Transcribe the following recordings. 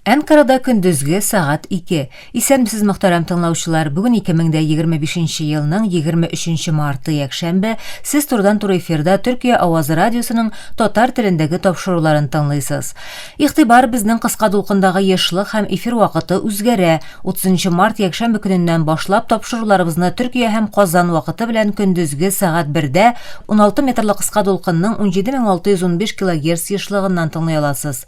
Әнкарада көндезге сәгать ике. Исәнмесез, мөхтәрәм тыңлаучылар! Бүген 2025 нче елның 23 марты, якшәмбе. Сез турыдан-туры эфирда Төркия авазы радиосының татар телендәге тапшыруларын тыңлыйсыз. Игътибар, безнең кыска дулкындагы ешлык һәм эфир вакыты үзгәрә. 30 нчы март якшәмбе көненнән башлап тапшыруларыбызны Төркия һәм Казан вакыты белән көндезге сәгать бердә 16 метрлы кыска дулкынның 17615 килогерц ешлыгыннан тыңлый аласыз.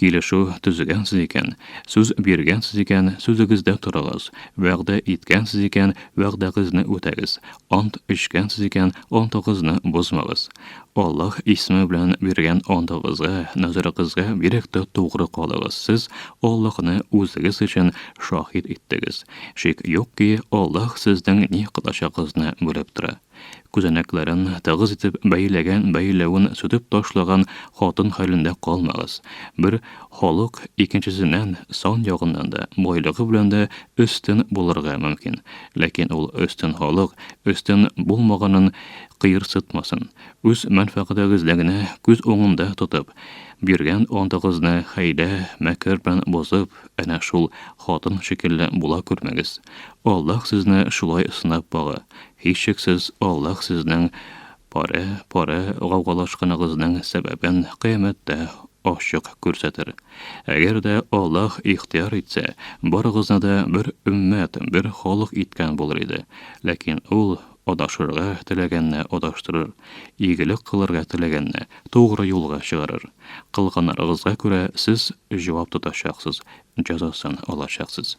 Килешү төзегәнсез икән, сүз биргәнсез икән, сүзегездә торыгыз. Вәгъдә иткәнсез икән, вәгъдәгезне үтәгез. Ант эчкәнсез икән, антыгызны бозмагыз. Аллаһ исеме белән биргән антыгызга, назарыгызга бирек тә тугры калыгыз. Сез Аллаһны үзегез өчен шаһит иттегез. Шик юк ки, Аллаһ сезнең ни кылачагыгызны белеп тора. Күзәнәкләрен тыгыз итеп бәйләгән бәйләвен сүтеп ташлаган хатын хәлендә калмагыз. Бер халык икенчесеннән сан ягыннан да, байлыгы белән дә өстен булырга мөмкин. Ләкин ул өстен халык өстен булмаганын кыерсытмасын. Үз мәнфәгатегезне генә күз уңында тотып, биргән антыгызны хәйлә, мәкер белән бозып, әнә шул хатын шикелле була күрмәгез. Аллаһ сезне шулай сынап бага. Һичшиксез, Аллаһ сезнең парә, парә гаугалашканыгызның сәбәбен Кыямәттә ачык күрсәтер. Әгәр дә Аллаһ ихтыяр итсә, барыгызны да бер өммәт, бер халык иткән булыр иде. Ләкин Ул адашырга теләгәнне адаштырыр, игелек кылырга теләгәнне тугры юлга чыгарыр. Кылганнарыгызга күрә сез җавап тотачаксыз, җәзасын алачаксыз.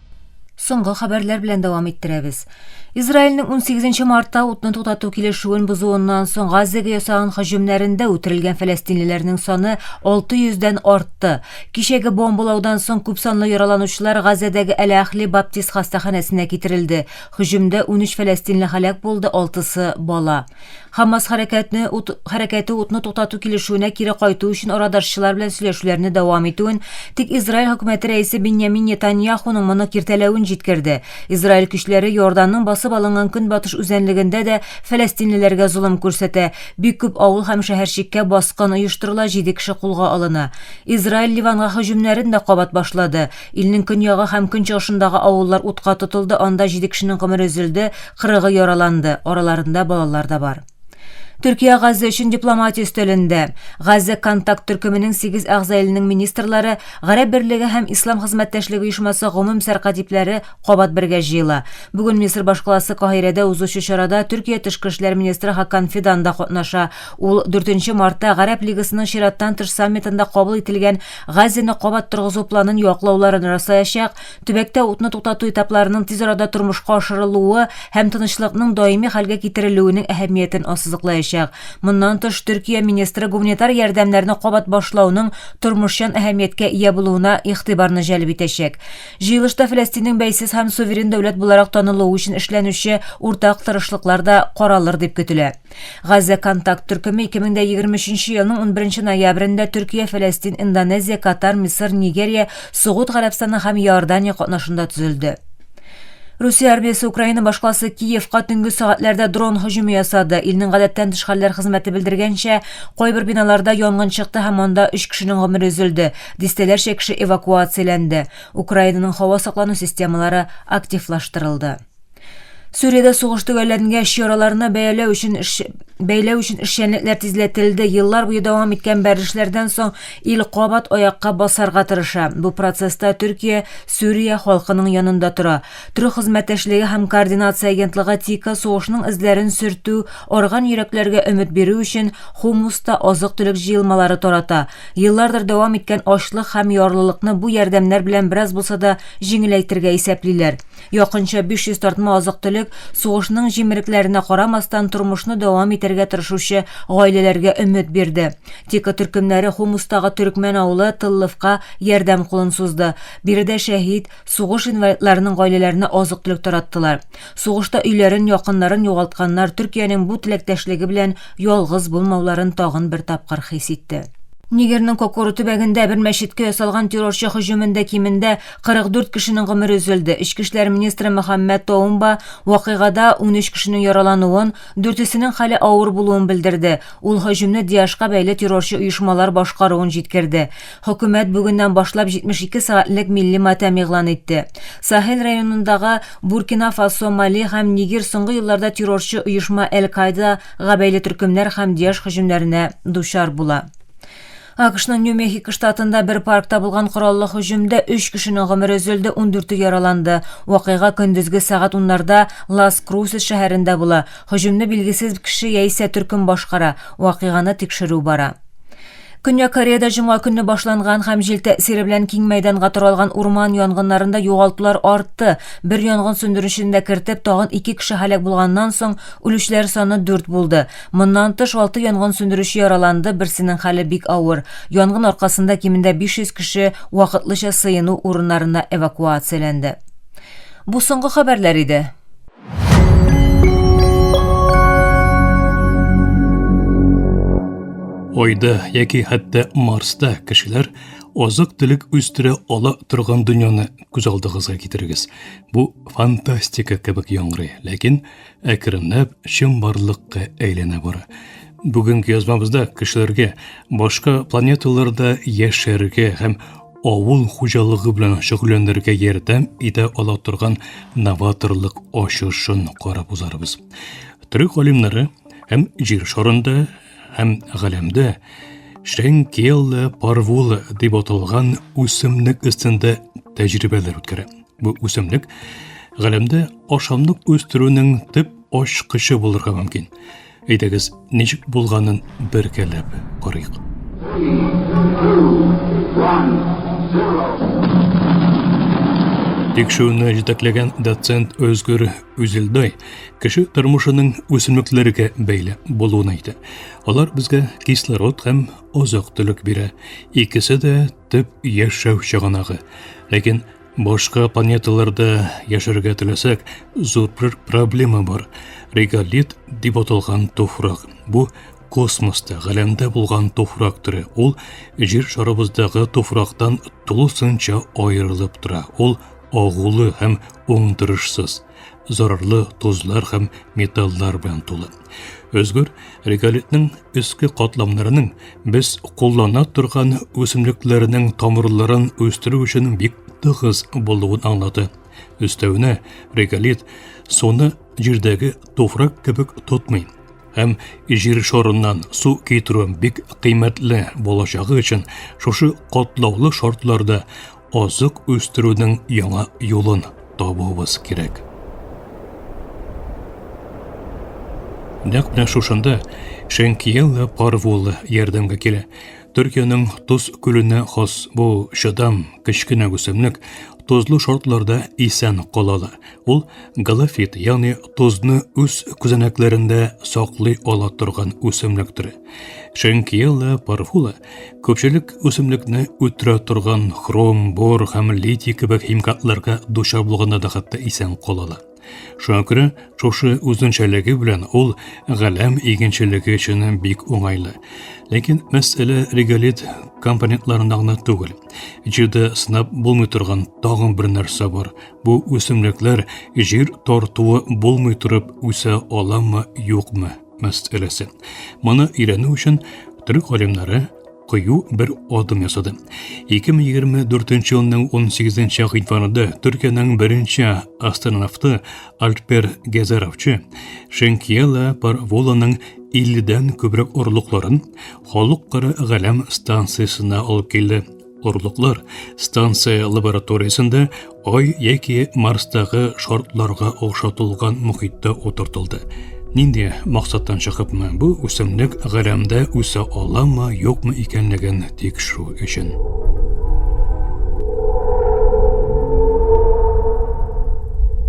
Соңгы хәбәрләр белән дәвам иттерәбез. Израильнең 18 мартта утны туктату килешүен бозуыннан соң Газзәгә ясаган һөҗүмнәрендә үтерелгән фәләстинлеләрнең саны 600 дән артты. Кичәге бомбалаудан соң күпсанлы яраланучылар Газзәдәге Әл-Ахли баптист хастаханәсенә китерелде. Һөҗүмдә унөч фәләстинле һәлак булды, алтысы, бала. Хамас хәрәкәтне ут, хәрәкәте утны туктату килешүенә кире кайту өчен арадашчылар белән сөйләшүләрне дәвам итүен, тик Израиль хөкүмәте рәисе Биньямин Нетаньяхуның моны киртәләвен җиткерде. Израиль көчләре Иорданның басып алынган көнбатыш үзәнлегендә дә фәләстинлеләргә золым күрсәтә. Бик күп авыл һәм шәһәрчеккә баскын оештырыла, җиде кеше кулга алына. Израиль Ливанга һөҗүмнәрен дә кабат башлады. Илнең көньягы һәм көнчыгышындагы авыллар утка тотылды, анда җиде кешенең гомере өзелде, кырыгы яраланды, араларында балалар да бар. Төркия Газза өчен дипломатия өстәлендә. Газза контакт төркеменең сигез әгъза иленең министрлары, Гарәп берлеге һәм Ислам хезмәттәшлеге оешмасы гомум сәркатипләре кабат бергә җыела. Бүген Мисыр башкаласы Каһирәдә узучы чарада Төркия тышкы эшләр министры Хакан Фидан да катнаша, Ул дүртенче мартта Гарәп Лигасының чираттан тыш саммитында кабул ителгән Газине кабат торгызу планын яклауларын раслаячак, төбәктә утны туктату этапларының тиз арада тормышка ашырылуы һәм тынычлыкның даими хәлгә китерелүенең әһәмиятен ассызыклаячак. Моннан тыш, Төркия министры гуманитар ярдәмнәрне кабат башлауның тормышчан әһәмияткә ия булуына игътибарны җәлеп итәчәк. Җыелышта Фәләстиннең бәйсез һәм суверен дәүләт буларак танылуы өчен эшләнүче уртак тырышлыклар да каралыр дип көтелә. Газә контакт төркеме 2023 елның 11 ноябрендә Төркия, Фәләстин, Индонезия, Катар, Мисыр, Нигерия, Сугуд Гарәбстаны һәм Иордания катнашында төзелде. Русия армиясе Украина башкаласы Киевка төнге сәгатьләрдә дрон һөҗүме ясады. Илнең гадәттән тыш хәлләр хезмәте белдергәнчә, кайбер биналарда янгын чыкты һәм анда 3 кешенең гомере өзелде, дистәләрчә кеше эвакуацияләнде. Украинаның һава саклану системалары активлаштырылды. Сүриядә сугыш төгәлләнгәч, яраларны бәяләү өчен эш бәйләү өчен эшчәнлекләр тизләтелде. Еллар буе дәвам иткән бәрелешләрдән соң ил кабат аякка басарга тырыша. Бу процесста Төркия Сүрия халкының янында тора. Төрек хезмәттәшлеге һәм координация агентлыгы ТИКа сугышның эзләрен сөртү, арган йөрәкләргә өмет бирү өчен Хумуста азык-төлек җыелмалары тарата. Еллардыр дәвам иткән ачлык һәм ярлылыкны бу ярдәмнәр белән бераз булса да җиңеләйтергә исәплиләр. Якынча 500 тартма азык-төлек сугышның җимерекләренә карамастан тормышны дәвам итәргә тырышучы гаиләләргә өмет бирде. Тика төркемнәре Хомустагы төрекмән авылы Тыллыфка ярдәм кулын сузды. Биредә шәһит, сугыш инвалидларының гаиләләренә азык-төлек тараттылар. Сугышта өйләрен, якыннарын югалтканнар Төркиянең бу теләктәшлеге белән ялгыз булмауларын тагын бер тапкыр хис итте. Нигерның Кокору төбәгендә бер мәчеткә ясалган террорчы һөҗүмендә кимендә 44 кешенең гомере өзелде. Эчке эшләр министры Мөхәммәд Тоумба вакыйгада 13 кешенең яралануын, дүртесенең хәле авыр булуын белдерде. Ул һөҗүмне ДИАШка бәйле террорчы оешмалар башкаруын җиткерде. Хөкүмәт бүгеннән башлап 72 сәгатьлек милли матәм игълан итте. Сахель районындагы Буркина-Фасо, Мали һәм Нигер соңгы елларда террорчы оешма Әл-Каидага бәйле төркемнәр һәм ДИАШ һөҗүмнәренә дучар була. AQShның Нью-Мехико штатында бер паркта булган кораллы һөҗүмдә 3 кешенең гомере өзелде, 14-е яраланды. Вакыйга көндезге сәгать уннарда Лас Крусес шәһәрендә була. Һөҗүмне билгесез кеше яисә төркем башкара. Вакыйганы тикшерү бара. Көньяк Кореяда җомга көнне башланган һәм җил тәэсире белән киң мәйданга таралган урман янгыннарында югалтулар артты. Бер янгын сүндерүчене дә кертеп, тагын ике кеше һәлак булганнан соң, үлүчеләр саны дүрт булды. Моннан тыш, алты янгын сүндерүче яраланды, берсенең хәле бик авыр. Янгын аркасында кимендә 500 кеше вакытлыча сыену урыннарына эвакуацияләнде. Бу соңгы хәбәрләр иде. Айда яки хәтта Марста кешеләр азык телек үстерә ала торган дөньяны күз алдыгызга китерегез. Бу фантастика кебек яңгырый, ләкин әкренләп чынбарлыкка әйләнә бара. Бүгенге язмабызда кешеләргә башка планеталарда яшәргә һәм авыл хуҗалыгы белән шөгыльләнергә ярдәм итә ала торган новаторлык ачышын карап узарбыз. Төрек галимнәре һәм җир шарында һәм галәмдә Шенкелла парвула дип аталган үсемлек өстендә тәҗрибәләр үткәрә. Бу үсемлек галәмдә ашамлык үстерүнең төп ачкычы булырга мөмкин. Әйдәгез, ничек булганын бергәләп карыйк. Тикшерүне җитәкләгән доцент Өзгүр Үзелдай кеше тормышының үсемлекләргә бәйле булуын әйтә. Алар безгә кислород һәм азык-төлек бирә. Икесе дә төп яшәү чыганагы. Ләкин Башка планеталарда яшәргә теләсәк, зур бер проблема бар. Реголит дип аталган туфрак. Бу космоста, галәмдә булган туфрак төре. Ул җир шарыбыздагы туфрактан тулысынча аерылып тора. Ул агулы һәм уңдырышсыз. зарарлы тозлар һәм металлар белән тулы. Өзгөр реголитның өске катламнарының без куллана торган үсемлекләрнең тамырларын үстерү өчен бик тыгыз булуын аңлады. Өстәвенә реголит суны җирдәге туфрак кебек тотмый һәм җир шарыннан су китерү бик кыйммәтле булачагы өчен шушы катлаулы шартларда азык үстерүнең яңа юлын табуыбыз кирәк. Нәкъ менә шушында Шәнкиеллы Парвуллы ярдәмгә килә. Төркиянең Туз күленә хас бу чыдам кечкенә үсемлек тозлы шартларда исән кала ала. Ул галофит, ягъни тозны үз күзәнәкләрендә саклый ала торган үсемлек төре. Шенкиелла парфула Көпчелек үсемлекне үтерә торган хром, бор һәм литий кебек химикатларга дучар булганда да хәтта исән калалар. Шуңа күрә шушы үзенчәлеге белән ул галәм игенчелеге өчен бик уңайлы. Ләкин мәсьәлә реголит компонентларында гына түгел. Җирдә сынап булмый торган тагын бер нәрсә бар. Бу үсемлекләр җир тартуы булмый торып үсә аламы, юкмы? мәсьәләсе. Моны өйрәнү өчен төрек галимнәре кыю бер адым ясады. 2024 елның 18 гыйнварында Төркиянең беренче астронавты Альпер Гезеровчы Шенкиела Парволаның 50-дән күбрәк орлыкларын халыкара галәм станциясенә алып килде. Орлыклар станция лабораториясендә Ай яки Марстагы шартларга охшатылган мөхиттә утыртылды. Нинди максаттан чыгыпмы бу үсемлек галәмдә үсә аламы, юкмы икәнлеген тикшерү өчен.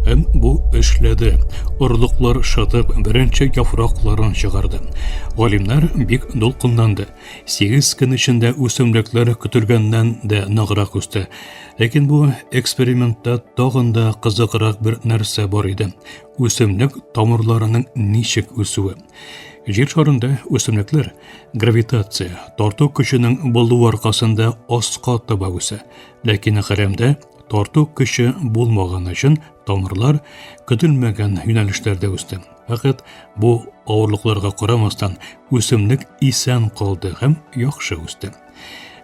Һәм бу эшләде. Орлыклар шытып, беренче яфракларын чыгарды. Галимнәр бик дулкынланды. Сигез көн эчендә үсемлекләр көтелгәннән дә ныграк үсте. Ләкин бу экспериментта тагын да кызыграк бер нәрсә бар иде. Үсемлек тамырларының ничек үсүе. Җир шарында үсемлекләр гравитация, тарту көченең булуы аркасында аска таба үсә. Ләкин хәрәмдә тарту көче булмаган өчен Тамырлар көтелмәгән юнәлешләрдә үсте. Фәкать бу авырлыкларга карамастан үсемлек исән калды һәм яхшы үсте.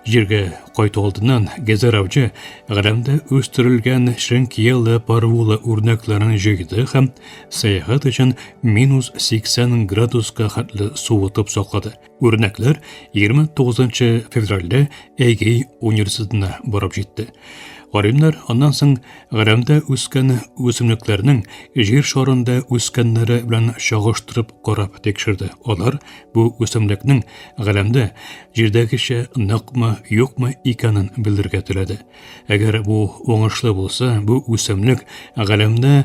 Җиргә кайту алдыннан Гезер авчы Гәрәмдә үстерелгән шенкиелы парвула үрнәкләрен җыйды һәм сәяхәт өчен минус 80 градуска хәтле суытып саклады. Үрнәкләр 29 февральдә Әйгей университетына барып җитте. Галимнәр аннан соң Гәрәмдә үскән үсемлекләрнең җир шарында үскәннәре белән чагыштырып карап тикшерде. Алар бу үсемлекнең Гәрәмдә җирдәгечә ныкмы, юкмы икәнен белергә теләде. Әгәр бу уңышлы булса, бу үсемлек Гәрәмдә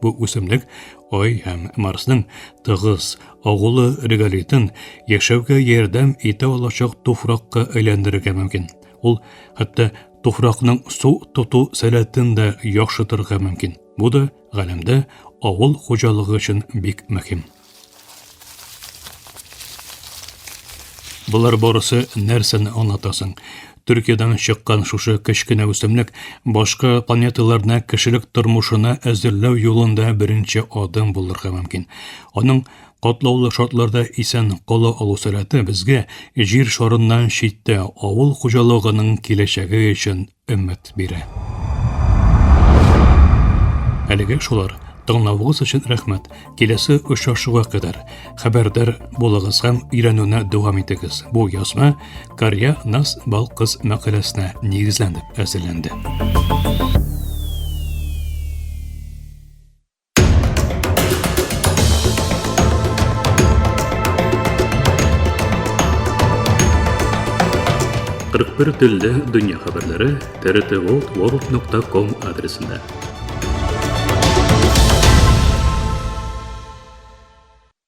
Бу үсемлек Ай һәм Марсның тыгыз агулы реголитын яшәүгә ярдәм итә алачак туфракка әйләндерергә мөмкин. Ул хәтта туфракның су тоту сәләтен дә яхшытырга мөмкин. Бу да галәмдә авыл хуҗалыгы өчен бик мөһим. Болар барысы нәрсәне аңлатасың? Төркиядән чыккан шушы кечкенә үсемлек башка планеталарны кешелек тормышына әзерләү юлында беренче адым булырга мөмкин. Аның катлаулы шартларда исән кала алу сәләте безгә җир шарыннан читтә авыл хуҗалыгының киләчәге өчен өмет бирә. Әлегә шулар. Тыңлавыгыз өчен рәхмәт. Киләсе очрашуга кадәр хәбәрдар булыгыз һәм өйрәнүне дәвам итегез. Бу язма Карья Нас Балкыз мәкаләсенә нигезләнеп әзерләнде. Кырык бер телле дөнья хәбәрләре трт ворлд нокта ком адресында.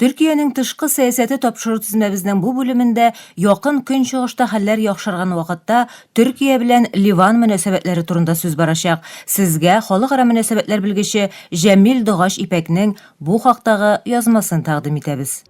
Төркиянең тышкы сәясәте тапшыру тезмәбезнең бу бүлемендә Якын Көнчыгышта хәлләр яхшырган вакытта Төркия белән Ливан мөнәсәбәтләре турында сүз барачак. Сезгә халыкара мөнәсәбәтләр белгече Җәмил Догач Ипәкнең бу хактагы язмасын тәкъдим итәбез.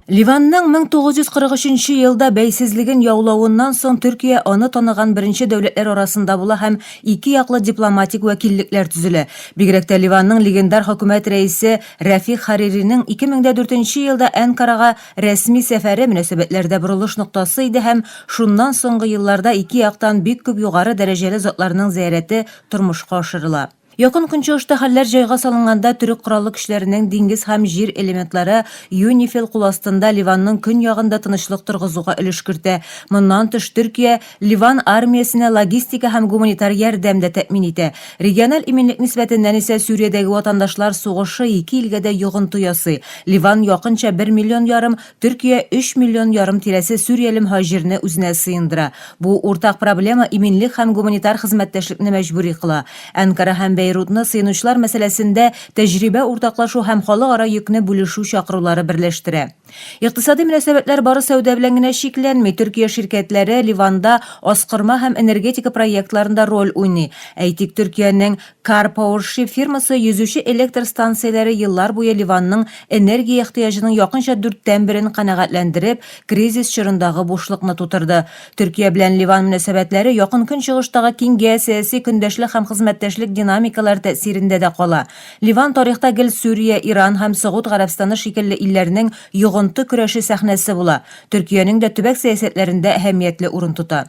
Ливанның 1943 елда бәйсезлеген яулавыннан соң Төркия аны таныган беренче дәүләтләр арасында була һәм ике яклы дипломатик вәкиллекләр төзелә. Бигрәк тә Ливанның легендар хөкүмәт рәисе Рәфих Хариринең 2004 елда Әнкарага рәсми сәфәре мөнәсәбәтләрдә борылыш ноктасы иде һәм шуннан соңгы елларда ике яктан бик күп югары дәрәҗәле затларның зыярәте тормышка ашырыла. Якын Көнчыгышта хәлләр җайга салынганда төрек кораллы көчләренең диңгез һәм җир элементлары Юнифил кул астында Ливанның көньягында тынычлык торгызуга өлеш кертә. Моннан тыш, Төркия Ливан армиясенә логистика һәм гуманитар ярдәм дә тәэмин итә. Региональ иминлек нисбәтеннән исә Сүриядәге ватандашлар сугышы ике илгә дә йогынты ясый, Ливан якынча бер миллион ярым, Төркия өч миллион ярым тирәсе сүрияле мһаҗирне үзенә сыендыра. Бу уртак проблема иминлек һәм гуманитар хезмәттәшлекне мәҗбүри кыла. Әнкара һәм Бәйрутны сыенучылар мәсьәләсендә тәҗрибә уртаклашу һәм халыкара йөкне бүлешү чакырулары берләштерә. Икътисади мөнәсәбәтләр бары сәүдә белән генә чикләнми. Төркия ширкәтләре Ливанда аскырма һәм энергетика проектларында роль уйный. Әйтик, Төркиянең Car Power Ship фирмасы йөзүче электр станцияләре еллар буе Ливанның энергия ихтыяҗының якынча дүрттән берен канәгатьләндереп, кризис чорындагы бушлыкны тутырды. Төркия белән Ливан мөнәсәбәтләре Якын Көнчыгыштагы киң геосәяси көндәшлек һәм хезмәттәшлек динамикалары тәэсирендә дә кала. Ливан тарихта гел Сүрия, Иран һәм Согуд Гарәбстаны шикелле илләрнең йогынты көрәше сәхнәсе була, Төркиянең дә төбәк сәясәтләрендә әһәмиятле урын тота.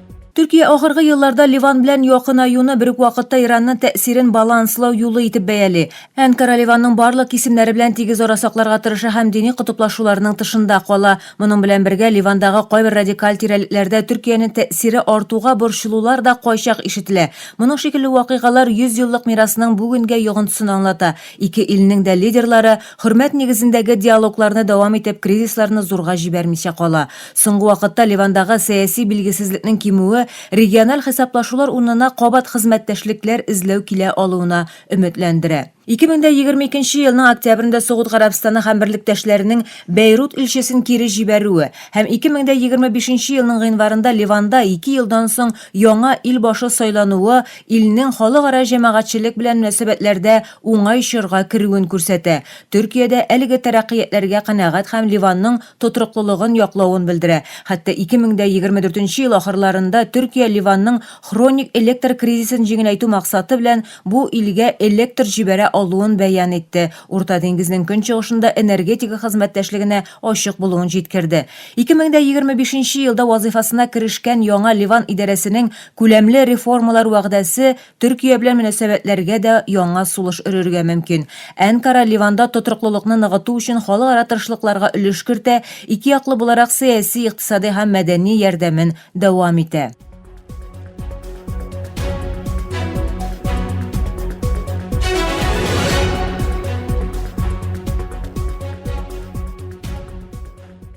Төркия ахыргы елларда Ливан белән якынаюны бер үк вакытта Иранның тәэсирен баланслау юлы итеп бәяли. Әнкара Ливанның барлык кисемнәре белән тигез ара сакларга тырыша һәм дини котыплашуларның тышында кала. Моның белән бергә Ливандагы кайбер радикаль тирәлекләрдә Төркиянең тәэсире артуга борчылулар да кайчак ишетелә. Моның шикелле вакыйгалар йөз еллык мирасның бүгенгә йогынтысын аңлата. Ике илнең дә лидерлары Хөрмәт нигезендәге диалогларны дәвам итеп кризисларны зурга җибәрмичә кала. Соңгы вакытта Ливандагы сәяси билгесезлекнең кимүе региональ хисаплашулар урынына кабат хезмәттәшлекләр эзләү килә алуына өметләндерә. 2022 елның октябрендә Согуд Гарәбстаны һәм берлектәшләренең Бәйрут илчесен кире җибәрүе һәм 2025 елның гыйнварында Ливанда ике елдан соң яңа ил башы сайлануы илнең халыкара җәмәгатьчелек белән мөнәсәбәтләрдә уңай чорга керүен күрсәтә, Төркиядә әлеге тәрәккыятләргә канәгать һәм Ливанның тотрыклылыгын яклавын белдерә. Хәтта 2024 ел ахырларында Төркия Ливанның хроник электр кризисын җиңеләйтү максаты белән бу илгә электр җибәрә алуын бәян итте, Урта диңгезнең көнчыгышында энергетика хезмәттәшлегенә ачык булуын җиткерде. 2025 елда вазыйфасына керешкән яңа Ливан идарәсенең күләмле реформалар вәгъдәсе Төркия белән мөнәсәбәтләргә дә яңа сулыш өрергә мөмкин. Әнкара Ливанда тотрыклылыкны ныгыту өчен халыкара тырышлыкларга өлеш кертә, ике яклы буларак сәяси, икътисади һәм мәдәни ярдәмен дәвам итә.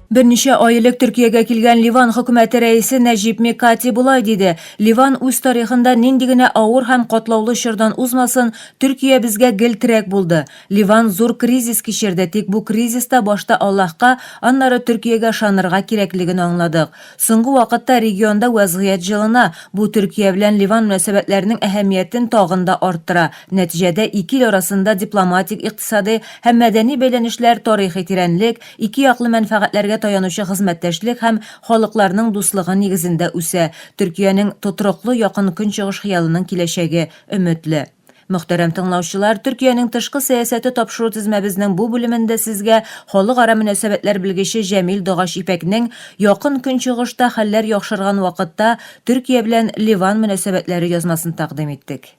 Берничә ай элек Төркиягә килгән Ливан хөкүмәте рәисе Нәҗип Микати болай диде, Ливан үз тарихында нинди генә авыр һәм катлаулы чордан узмасын, Төркия безгә гел терәк булды. Ливан зур кризис кичерде, тик бу кризиста башта Аллаһка, аннары Төркиягә ышанырга кирәклеген аңладык. Соңгы вакытта регионда вәзгыять җылына, бу Төркия белән Ливан мөнәсәбәтләренең әһәмиятен тагын да арттыра. Нәтиҗәдә ике ил арасында дипломатик, икътисади һәм мәдәни бәйләнешләр тарихи тирәнлек, Ике яклы мәнфәгатьләргә таянучы хезмәттәшлек һәм халыкларның дуслыгы нигезендә үсә, Төркиянең тотрыклы Якын Көнчыгыш хыялының киләчәге өметле. Мөхтәрәм тыңлаучылар, Төркиянең тышкы сәясәте тапшыру тезмәбезнең бу бүлемендә сезгә халыкара мөнәсәбәтләр белгече Җәмил Догач Ипәкнең Якын Көнчыгышта хәлләр яхшырган вакытта Төркия белән Ливан мөнәсәбәтләре язмасын тәкъдим иттек.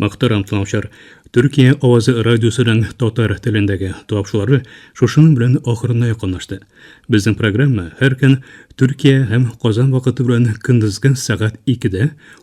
Мактарам тыңлаучылар. Төркия авазы радиосының татар телендәге тапшылары шушының белән ахырына якынлашты. Безнең программа һәр көн Төркия һәм Казан вакыты белән көндезге сәгать 2-дә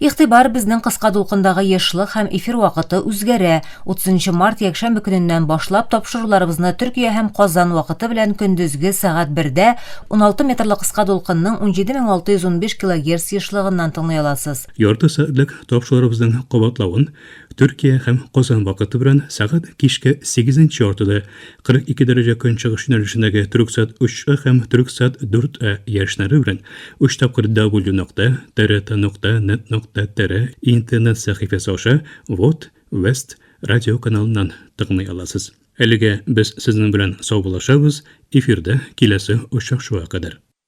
Игътибар, безнең кыска дулкындагы ешлык һәм эфир вакыты үзгәрә. 30 март якшәмбе көненнән башлап тапшыруларыбызны Төркия һәм Казан вакыты белән көндезге сәгать бердә 16 метрлы кыска дулкынның 17615 килогерц ешлыгыннан тыңлый аласыз. Ярты сәгатьлек тапшыруларыбызның кабатлавын Төркия һәм Казан вакыты белән сәгать кичке сигезенче яртыда 42 дәрәҗә көнчыгыш юнәлешендәге Төрексат 3А һәм Төрексат 4А яшьнәре белән өч тапкыр дабл-ю нокта трт нокта нет нокта тр интернет сәхифәсе аша вот Вест радиоканалыннан тыңлый аласыз. Әлегә без сезнең белән саубуллашабыз, эфирда киләсе очрашуга кадәр.